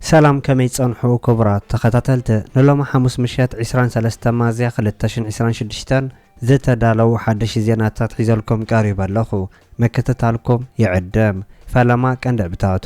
ሰላም ከመይ ትጸንሑ ክቡራት ተኸታተልቲ ንሎሚ ሓሙስ ምሸት ዕስራን ሰለስተን ሚያዝያ ክልተ ሽሕን ዕስራን ሽዱሽተን ዝተዳለዉ ሓደሽቲ ዜናታት ሒዘልኩም ቀሪበ ኣለኹ ምክትታልኩም ይዕድም። ፈለማ ቀንዲ ዕብታቱ።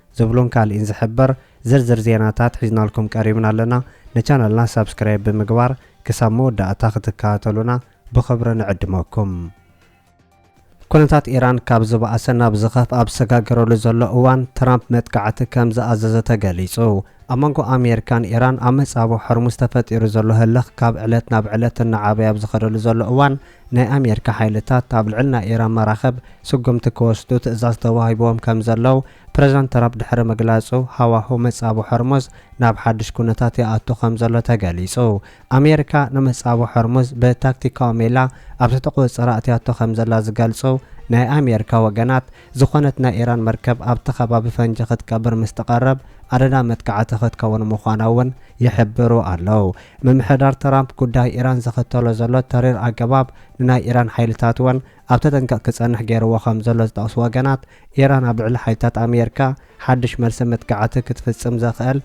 ዝብሉን ካሊእን ዝሕብር ዝርዝር ዜናታት ሒዝናልኩም ቀሪብና ኣለና ንቻነልና ሳብስክራይብ ብምግባር ክሳብ መወዳእታ ክትከታተሉና ብኽብሪ ንዕድመኩም። ኩነታት ኢራን ካብ ዝበኣሰ ናብ ዝኸፍኣ ኣብ ዝሰጋገረሉ ዘሎ እዋን፣ ትራምፕ መጥቃዕቲ ከም ዝኣዘዘ ተገሊጹ። ኣብ መንጎ ኣሜሪካን ኢራን ኣብ መጻብቦ ሆርሙዝ ተፈጢሩ ዘሎ ህልኽ ካብ ዕለት ናብ ዕለት እናዓበየ ኣብ ዝኸደሉ ዘሎ እዋን፣ ናይ ኣሜሪካ ሓይልታት ኣብ ልዕሊ ናይ ኢራን መራኽብ ስጉምቲ ክወስዱ ትእዛዝ ተዋሂብዎም ከምዘለው ፕረዚደንት ትራፕ ድሕሪ ምግላጹ፣ ሃዋሁ መጻብቦ ሆርሙዝ ናብ ሓድሽ ኩነታት ይኣቱ ከምዘሎ ተገሊጹ። ኣሜሪካ ንመጻብቦ ሆርሙዝ ብታክቲካዊ ሜላ ኣብ ትሕቲ ቁጽጽራ ኣእትያቶ ከምዘላ ዝገልጹ ናይ ኣሜሪካ ወገናት፣ ዝኾነት ናይ ኢራን መርከብ ኣብቲ ከባቢ ፈንጂ ክትቀብር ምስ ትቐርብ ኣደዳ መጥቃዕቲ ክትከውን ምዃና'ውን ይሕብሩ ኣለዉ። ምምሕዳር ትራምፕ ጉዳይ ኢራን ዝኽተሎ ዘሎ ተሪር ኣገባብ ንናይ ኢራን ሓይልታት'ውን ኣብ ተጠንቀቕ ክጸንሕ ገይርዎ ከም ዘሎ ዝጠቕሱ ወገናት፣ ኢራን ኣብ ልዕሊ ሓይልታት ኣሜርካ ሓድሽ መልሲ መጥቃዕቲ ክትፍጽም ዘኽእል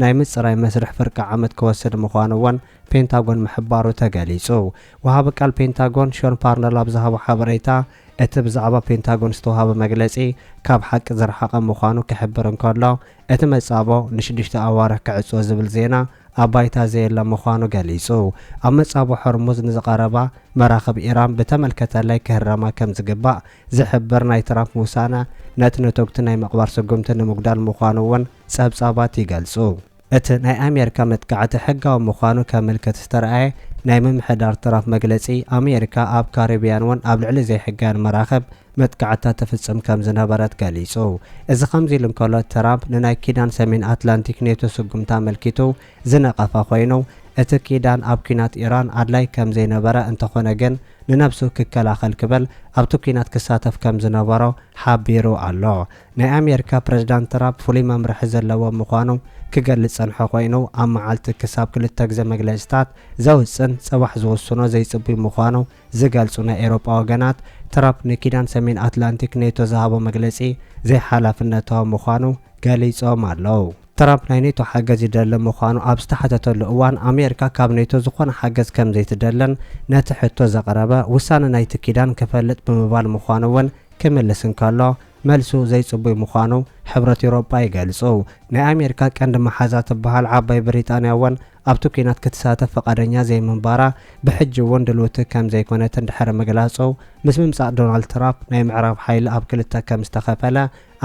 ናይ ምጽራይ መስርሕ ፍርቂ ዓመት ክወስድ ምዃኑ'ውን ፔንታጎን ምሕባሩ ተገሊጹ። ወሃቢ ቃል ፔንታጎን ሾን ፓርነል ኣብ ዝሃቦ ሓበሬታ፣ እቲ ብዛዕባ ፔንታጎን ዝተዋህበ መግለጺ ካብ ሓቂ ዝረሓቐ ምዃኑ ክሕብር እንከሎ፣ እቲ መጻብቦ ንሽዱሽተ ኣዋርሕ ክዕጾ ዝብል ዜና ኣብ ባይታ ዘየለ ምዃኑ ገሊጹ። ኣብ መጻብቦ ሆርሙዝ ንዝቐረባ መራኽብ ኢራን ብተመልከተለይ ክህረማ ከምዝግባእ ዝሕብር ናይ ትራፕ ውሳነ፣ ነቲ ነቶግቲ ናይ ምቕባር ስጉምቲ ንምጉዳል ምዃኑ'ውን ጸብጻባት ይገልጹ። እቲ ናይ ኣሜሪካ መጥቃዕቲ ሕጋዊ ምዃኑ ከምልክት ዝተርኣየ ናይ ምምሕዳር ትራፕ መግለጺ፣ ኣሜሪካ ኣብ ካሪብያን'ውን ኣብ ልዕሊ ዘይሕጋውያን መራኽብ መጥቃዕትታት ትፍጽም ከም ዝነበረት ገሊጹ። እዚ ከምዚ'ሉ እንከሎ፣ ትራምፕ ንናይ ኪዳን ሰሜን ኣትላንቲክ ኔቶ ስጉምቲ ኣመልኪቱ፣ ዝነቐፈ ኮይኑ፣ እቲ ኪዳን ኣብ ኲናት ኢራን ኣድላይ ከም ዘይነበረ እንተኾነ ግን ንነብሱ ክከላኸል ክብል ኣብቲ ኲናት ክሳተፍ ከም ዝነበሮ ሓቢሩ ኣሎ። ናይ ኣሜሪካ ፕረዚዳንት ትራፕ ፍሉይ መምርሒ ዘለዎ ምዃኑ ክገልጽ ዝጸንሐ ኮይኑ፣ ኣብ መዓልቲ ክሳብ ክልተ ግዘ መግለጺታት ዘውጽን ጽባሕ ዝውስኖ ዘይጽቡይ ምዃኑ ዝገልጹ ናይ ኤውሮጳ ወገናት፣ ትራፕ ንኪዳን ሰሜን ኣትላንቲክ ኔቶ ዝሃቦ መግለጺ ዘይሓላፍነታዊ ምዃኑ ገሊጾም ኣለው። ትራምፕ ናይ ኔቶ ሓገዝ ይደሊ ምዃኑ ኣብ ዝተሓተተሉ እዋን፣ ኣሜርካ ካብ ኔቶ ዝኾነ ሓገዝ ከምዘይትደልን ነቲ ሕቶ ዘቕረበ፣ ውሳነ ናይቲ ኪዳን ክፈልጥ ብምባል ምዃኑ'ውን ክምልስ እንከሎ፣ መልሱ ዘይጽቡይ ምዃኑ ሕብረት ኤውሮጳ ይገልጹ። ናይ ኣሜርካ ቀንዲ መሓዛ ትበሃል ዓባይ ብሪጣንያ'ውን፣ ኣብቲ ኲናት ክትሳተፍ ፍቓደኛ ዘይምንባራ ብሕጂ እውን ድልውቲ ከም ዘይኮነት እንድሕሪ ምግላጹ፣ ምስ ምምጻእ ዶናልድ ትራፕ ናይ ምዕራብ ሓይሊ ኣብ ክልተ ከም ዝተኸፈለ፣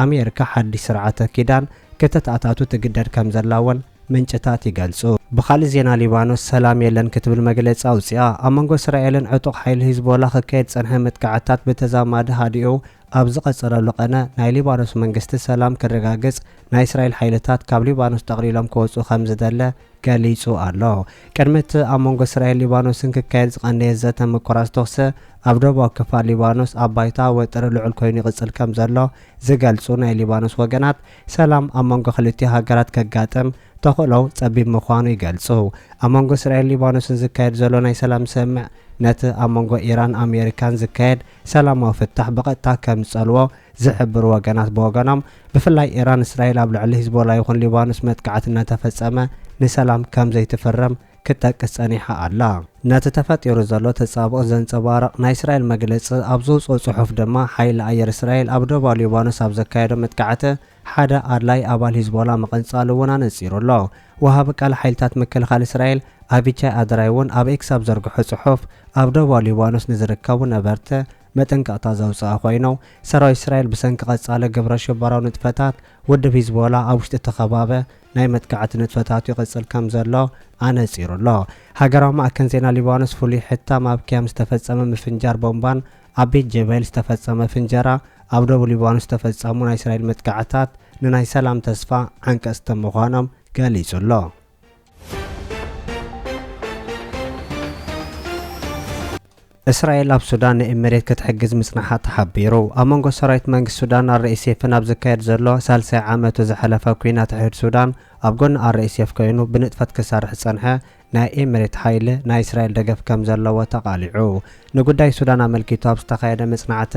ኣሜሪካ ሓድሽ ስርዓተ ኪዳን ከተተኣታቱ ትግደድ ከም ዘላ እውን ምንጭታት ይገልጹ። ብኻልእ ዜና ሊባኖስ ሰላም የለን ክትብል መግለጺ ኣውጺኣ። ኣብ መንጎ እስራኤልን ዕጡቕ ሓይሊ ሂዝቦላ ክካየድ ዝጸንሐ መጥቃዕትታት ብተዛማዲ ሃዲኡ ኣብ ዝቐጸለሉ ቐነ፣ ናይ ሊባኖስ መንግስቲ ሰላም ክረጋግጽ ናይ እስራኤል ሓይልታት ካብ ሊባኖስ ጠቕሊሎም ክወጹ ከም ዝደለ ገሊጹ ኣሎ። ቅድሚ እቲ ኣብ መንጎ እስራኤል ሊባኖስን ክካየድ ዝቐነየ ዘተ ምቁራጽ ተኹሲ፣ ኣብ ደቡባዊ ክፋል ሊባኖስ ኣብ ባይታ ወጥሪ ልዑል ኮይኑ ይቕጽል ከም ዘሎ ዝገልጹ ናይ ሊባኖስ ወገናት፣ ሰላም ኣብ መንጎ ክልቲኡ ሃገራት ከጋጥም ተኽእሎው ጸቢብ ምዃኑ ይገልጹ። ኣብ መንጎ እስራኤልን ሊባኖስን ዝካየድ ዘሎ ናይ ሰላም ስምምዕ፣ ነቲ ኣብ መንጎ ኢራን ኣሜሪካን ዝካየድ ሰላማዊ ፍታሕ ብቐጥታ ከም ዝጸልዎ ዝሕብሩ ወገናት ብወገኖም፣ ብፍላይ ኢራን እስራኤል ኣብ ልዕሊ ሂዝቦላ ይኹን ሊባኖስ መጥቃዕቲ እናተፈጸመ ንሰላም ከም ዘይትፍርም ክትጠቅስ ጸኒሓ ኣላ። ነቲ ተፈጢሩ ዘሎ ተጻብኦ ዘንጸባርቕ ናይ እስራኤል መግለጺ ኣብ ዘውጽኦ ጽሑፍ ድማ፣ ሓይሊ ኣየር እስራኤል ኣብ ደቡባዊ ሊባኖስ ኣብ ዘካየዶ መጥቃዕቲ ሓደ ኣድላዪ ኣባል ሂዝቦላ ምቕንጻሉ እውን ኣነጺሩ ኣሎ። ወሃቢ ቃል ሓይልታት ምክልኻል እስራኤል ኣቪቻይ ኣድራይ እውን ኣብ ኤክስ ኣብ ዘርግሖ ጽሑፍ፣ ኣብ ደቡባዊ ሊባኖስ ንዝርከቡ ነበርቲ መጠንቀቕታ ዘውጽኣ ኮይኑ፣ ሰራዊት እስራኤል ብሰንኪ ቀጻሊ ግብረሽበራዊ ንጥፈታት ውድብ ሂዝቦላ ኣብ ውሽጢ እቲ ከባቢ ናይ መጥቃዕቲ ንጥፈታቱ ይቕጽል ከምዘሎ ኣነጺሩ ኣሎ። ሃገራዊ ማእከን ዜና ሊባኖስ ፍሉይ ሕታም ኣብ ኪያም ዝተፈጸመ ምፍንጃር ቦምባን ኣብ ቤት ጀበይል ዝተፈጸመ ፍንጀራ ኣብ ደቡብ ሊባኖስ ዝተፈጸሙ ናይ እስራኤል መጥቃዕታት ንናይ ሰላም ተስፋ ዓንቀጽቲ ምዃኖም ገሊጹ ኣሎ። እስራኤል ኣብ ሱዳን ንእብ መሬት ክትሕግዝ ምጽናሓ ተሓቢሩ። ኣብ መንጎ ሰራዊት መንግስቲ ሱዳን ኣርኤስኤፍን ኣብ ዝካየድ ዘሎ ሳልሳይ ዓመቱ ዝሐለፈ ኲናት ሕድሕድ ሱዳን ኣብ ጎኒ ኣርኤስኤፍ ኮይኑ ብንጥፈት ክሰርሕ ዝጸንሐ ናይ እብ መሬት ሓይሊ ናይ እስራኤል ደገፍ ከም ዘለዎ ተቓሊዑ ንጉዳይ ሱዳን ኣመልኪቱ ኣብ ዝተኻየደ መጽናዕቲ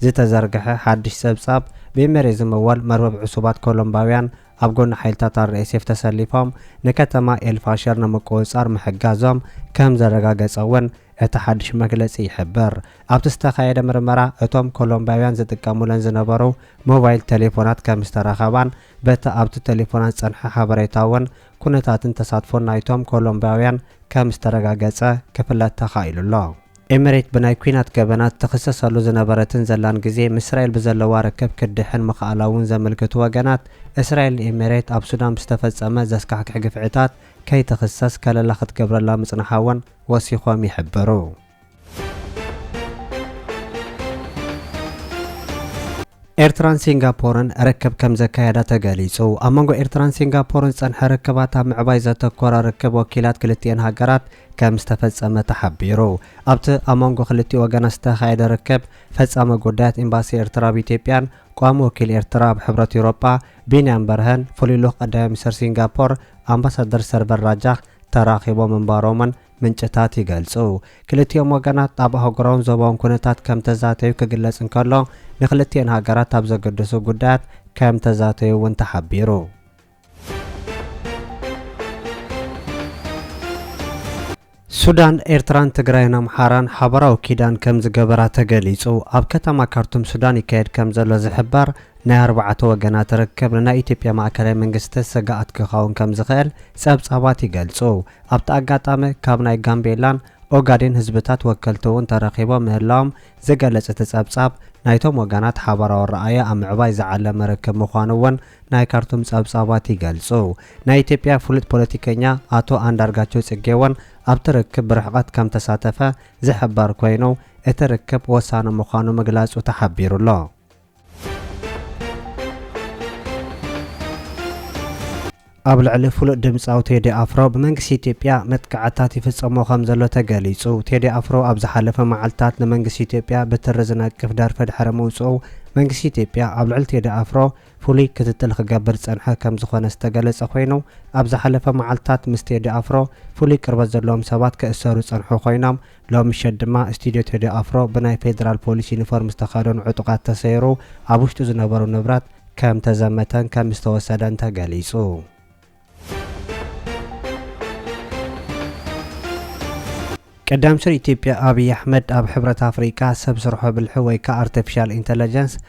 ዝተዘርግሐ ሓድሽ ጸብጻብ ብእብ መሬት ዝምወል መርበብ ዕሱባት ኮሎምባውያን ኣብ ጎኒ ሓይልታት ኣርኤስኤፍ ተሰሊፎም ንከተማ ኤልፋሸር ንምቁፅፃር ምሕጋዞም ከም ዘረጋገፀ እውን እቲ ሓድሽ መግለፂ ይሕብር። ኣብቲ ዝተኻየደ ምርመራ እቶም ኮሎምቢያውያን ዝጥቀሙለን ዝነበሩ ሞባይል ቴሌፎናት ከም ዝተረኸባን በቲ ኣብቲ ቴሌፎናት ዝፀንሐ ሓበሬታ እውን ኩነታትን ተሳትፎን ናይቶም ኮሎምቢያውያን ከም ዝተረጋገፀ ክፍለጥ ተኻኢሉ ኣሎ። ኤምሬት ብናይ ኲናት ገበናት ትኽሰሰሉ ዝነበረትን ዘላን ግዜ ምስ እስራኤል ብዘለዋ ርክብ ክትድሕን ምኽኣላ'ውን ዘምልክቱ ወገናት፣ እስራኤል ንኤምሬት ኣብ ሱዳን ብዝተፈጸመ ዘስካሕክሕ ግፍዕታት ከይትኽሰስ ከለላ ክትገብረላ ምጽንሓ'ውን ወሲኾም ይሕብሩ። ኤርትራን ሲንጋፖርን ርክብ ከም ዘካየዳ ተገሊጹ። ኣብ መንጎ ኤርትራን ሲንጋፖርን ዝጸንሐ ርክባት ኣብ ምዕባይ ዘተኮረ ርክብ ወኪላት ክልቲኤን ሃገራት፣ ከም ዝተፈጸመ ተሓቢሩ። ኣብቲ ኣብ መንጎ ክልቲኡ ወገናት ዝተኻየደ ርክብ፣ ፈጻሚ ጉዳያት ኤምባሲ ኤርትራ ኣብ ኢትዮጵያን ቋሚ ወኪል ኤርትራ ኣብ ሕብረት ኤውሮጳ ቢንያም በርሀን ፍሉይ ልኡኽ ቀዳማይ ሚኒስተር ሲንጋፖር ኣምባሳደር ሰርቨር ራጃክ ተራኺቦም ምንባሮምን ምንጭታት ይገልጹ። ክልቲኦም ወገናት ኣብ ኣህጉራውን ዞባውን ኩነታት ከም ተዛተዩ ክግለጽ እንከሎ፣ ንክልቲኤን ሃገራት ኣብ ዘገድሱ ጉዳያት ከም ተዛተዩ'ውን ተሓቢሩ። ሱዳን፣ ኤርትራን ትግራይን ኣምሓራን ሓባራዊ ኪዳን ከምዝገበራ ተገሊጹ። ኣብ ከተማ ካርቱም ሱዳን ይካየድ ከምዘሎ ዝሕበር ናይ ኣርባዕተ ወገናት ርክብ ንናይ ኢትዮጵያ ማእከላይ መንግስቲ ስግኣት ክኸውን ከምዝኽእል ጸብጻባት ይገልጹ። ኣብቲ ኣጋጣሚ ካብ ናይ ጋምቤላን ኦጋዴን ህዝብታት ወከልቲ'ውን ተረኺቦም ምህላዎም ዝገለጽ እቲ ጸብጻብ፣ ናይቶም ወገናት ሓባራዊ ኣረኣእያ ኣብ ምዕባይ ዝዓለመ ርክብ ምዃኑ እውን ናይ ካርቱም ጸብጻባት ይገልጹ። ናይ ኢትዮጵያ ፍሉጥ ፖለቲከኛ ኣቶ ኣንዳርጋቸው ጽጌ እውን ኣብቲ ርክብ ብርሕቐት ከም ተሳተፈ ዝሕበር ኮይኑ፣ እቲ ርክብ ወሳኒ ምዃኑ ምግላጹ ተሓቢሩ'ሎ። ኣብ ልዕሊ ፍሉጥ ድምጻዊ ቴዲ ኣፍሮ ብመንግስቲ ኢትዮጵያ መጥቃዕትታት ይፍጸሞ ከም ዘሎ ተገሊጹ። ቴዲ ኣፍሮ ኣብ ዝሓለፈ መዓልትታት ንመንግስቲ ኢትዮጵያ ብትሪ ዝነቅፍ ደርፊ ድሕሪ ምውጽኡ መንግስቲ ኢትዮጵያ ኣብ ልዕሊ ቴዲ ኣፍሮ ፍሉይ ክትትል ክገብር ዝጸንሐ ከም ዝኾነ ዝተገለጸ ኮይኑ ኣብ ዝሓለፈ መዓልትታት ምስ ቴዲ ኣፍሮ ፍሉይ ቅርበት ዘለዎም ሰባት ክእሰሩ ዝጸንሑ ኮይኖም ሎሚ ምሸት ድማ ስቱድዮ ቴዲ ኣፍሮ ብናይ ፌደራል ፖሊስ ዩኒፎርም ዝተኸደኑ ዕጡቓት ተሰይሩ ኣብ ውሽጡ ዝነበሩ ንብረት ከም ተዘመተን ከም ዝተወሰደን ተገሊፁ። ቀዳምስር ኢትዮጵያ ኣብይ ኣሕመድ ኣብ ሕብረት ኣፍሪቃ ሰብ ስርሖ ብልሒ ወይ ከዓ ኣርተፊሻል ኢንተለጀንስ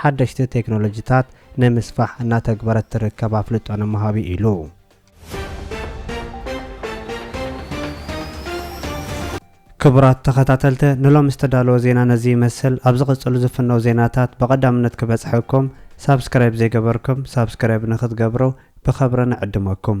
ሓደሽቲ ቴክኖሎጂታት ንምስፋሕ እናተግበረት ትርከብ ኣፍልጦ ንምሃብ እዩ ኢሉ። ክቡራት ተኸታተልቲ ንሎሚ ዝተዳለወ ዜና ነዚ ይመስል። ኣብ ዝቕጽሉ ዝፍነው ዜናታት ብቐዳምነት ክበጽሐኩም ሳብስክራይብ ዘይገበርኩም ሳብስክራይብ ንክትገብሩ ብኸብሪ ንዕድመኩም።